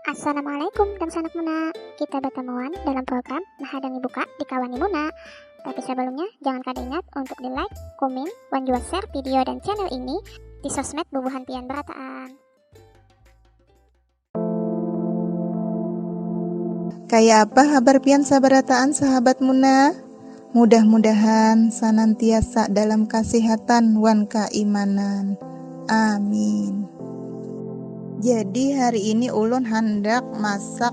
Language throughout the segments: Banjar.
Assalamualaikum dan sanak Muna. Kita bertemuan dalam program Mahadangi Buka di Kawani Muna. Tapi sebelumnya, jangan kada ingat untuk di like, komen, dan juga share video dan channel ini di sosmed bubuhan pian berataan. Kayak apa habar pian sabarataan sahabat Muna? Mudah-mudahan sanantiasa dalam kasihatan wan kaimanan. Amin. Jadi hari ini ulun handak masak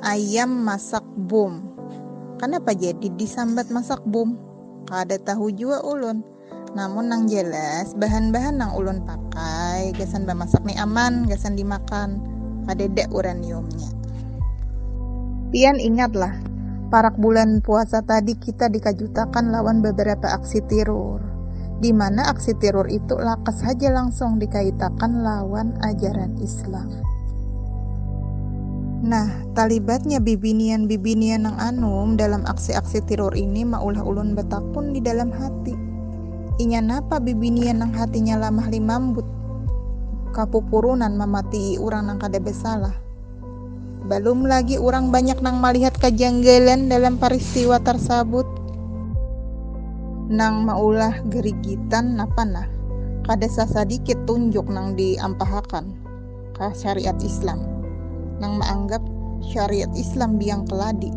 ayam masak bom. Kanapa jadi disambat masak bom? Kada tahu jua ulun. Namun nang jelas, bahan-bahan nang ulun pakai gasan bamasak ni aman gasan dimakan, kadada uraniumnya. Pian ingatlah, parak bulan puasa tadi kita dikajutakan lawan babarapa aksi tirur, di mana aksi tirur itu lakas haja langsung dikaitakan lawan ajaran Islam. Nah, Talibatnya bibinian-bibinian nang anum dalam aksi-aksi tiror ini maulah ulun batakun di dalam hati, Inya napa bibinian nang hatinya lamah limambut, kapupurunan mamatii urang nang kada basalah? Balum lagi urang banyak nang malihat kajanggalan dalam paristiwa tarsabut nang maulah garigitan napa nah, kada sasadikit tunjuk nang diampahakan. ka syariat Islam nang maanggap syariat Islam biang keladi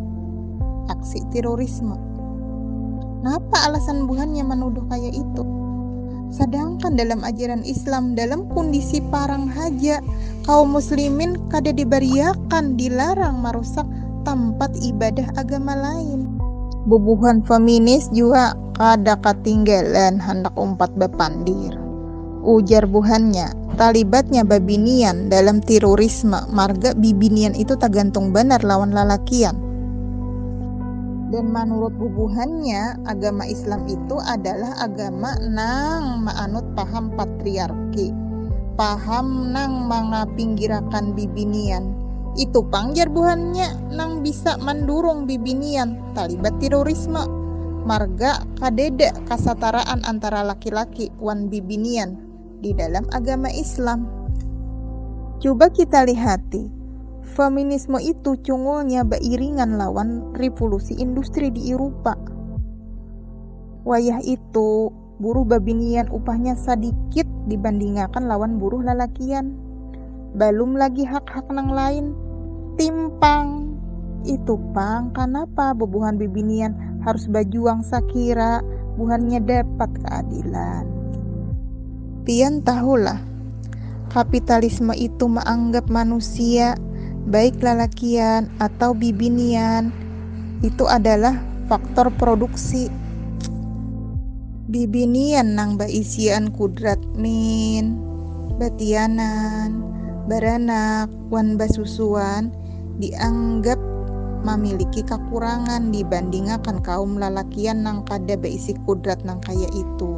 aksi terorisme. Napa alasan buhannya menuduh kayak itu? Sedangkan dalam ajaran Islam, dalam kondisi parang haja, kaum muslimin kada diberiakan dilarang merusak tempat ibadah agama lain. Bubuhan feminis juga kada ketinggalan hendak umpat bepandir. Ujar buhannya, talibatnya babinian dalam tirurisme marga bibinian itu tagantung banar lawan lalakian. Dan manurut bubuhannya, agama Islam itu adalah agama nang maanut paham patriarki, paham nang mangapinggirakan bibinian. Itu pang jar buhannya nang bisa mandurung bibinian talibat tirorisme marga kadeda kasataraan antara laki-laki wan bibinian di dalam agama Islam. Cuba kita lihati, feminisme itu cungulnya bairingan lawan Rivulusi Industri di Irupa. Wayah itu, Buruh babinian upahnya sadikit dibandingakan lawan buruh lalakian. Balum lagi hak-hak nang lain. Timpang. Itu pang kanapa bubuhan bibinian harus bajuang sakira buhannya dapat keadilan. Pian tahulah, kapitalisme itu maanggap manusia, baik lalakian atau bibinian, Itu adalah faktor produksi. Bibinian nang baisian kudrat min, batianan, baranak, wan basusuan dianggap mamiliki kakurangan dibandingakan kaum lalakian nang kada baisi kudrat nang kaya itu.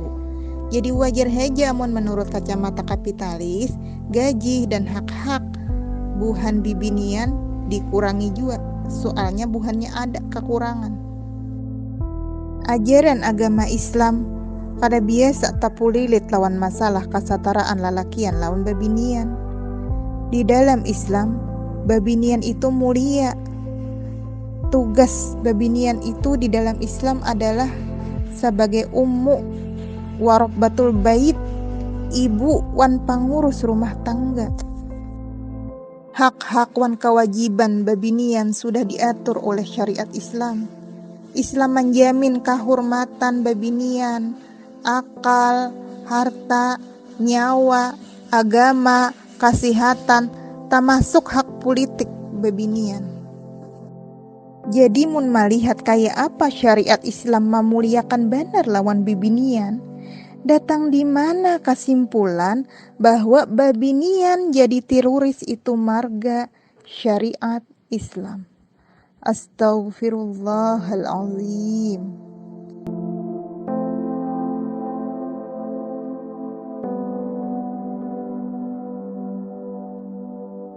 Jadi wajar haja amun manurut kacamata kapitalis, Gaji dan hak-hak buhan bibinian dikurangi jua, soalnya buhannya ada kakurangan. Ajaran agama Islam kada biasa tapulilit lawan masalah kasataraan lalakian lawan babinian. Di dalam Islam, babinian itu mulia. Tugas babinian itu di dalam Islam adalah sabagai ummu, Warobbatul bait, ibu wan pangurus rumah tangga. Hak-hak wan kawajiban babinian sudah diatur oleh syariat Islam. Islam manjamin kahurmatan babinian, akal, harta, nyawa, agama, kasihatan, tamasuk hak pulitik babinian. Jadi mun malihat kaya apa syariat Islam mamuliakan banar lawan bibinian, datang di mana kasimpulan bahwa babinian jadi tiruris itu marga syariat Islam. Astaghfirullahalazim.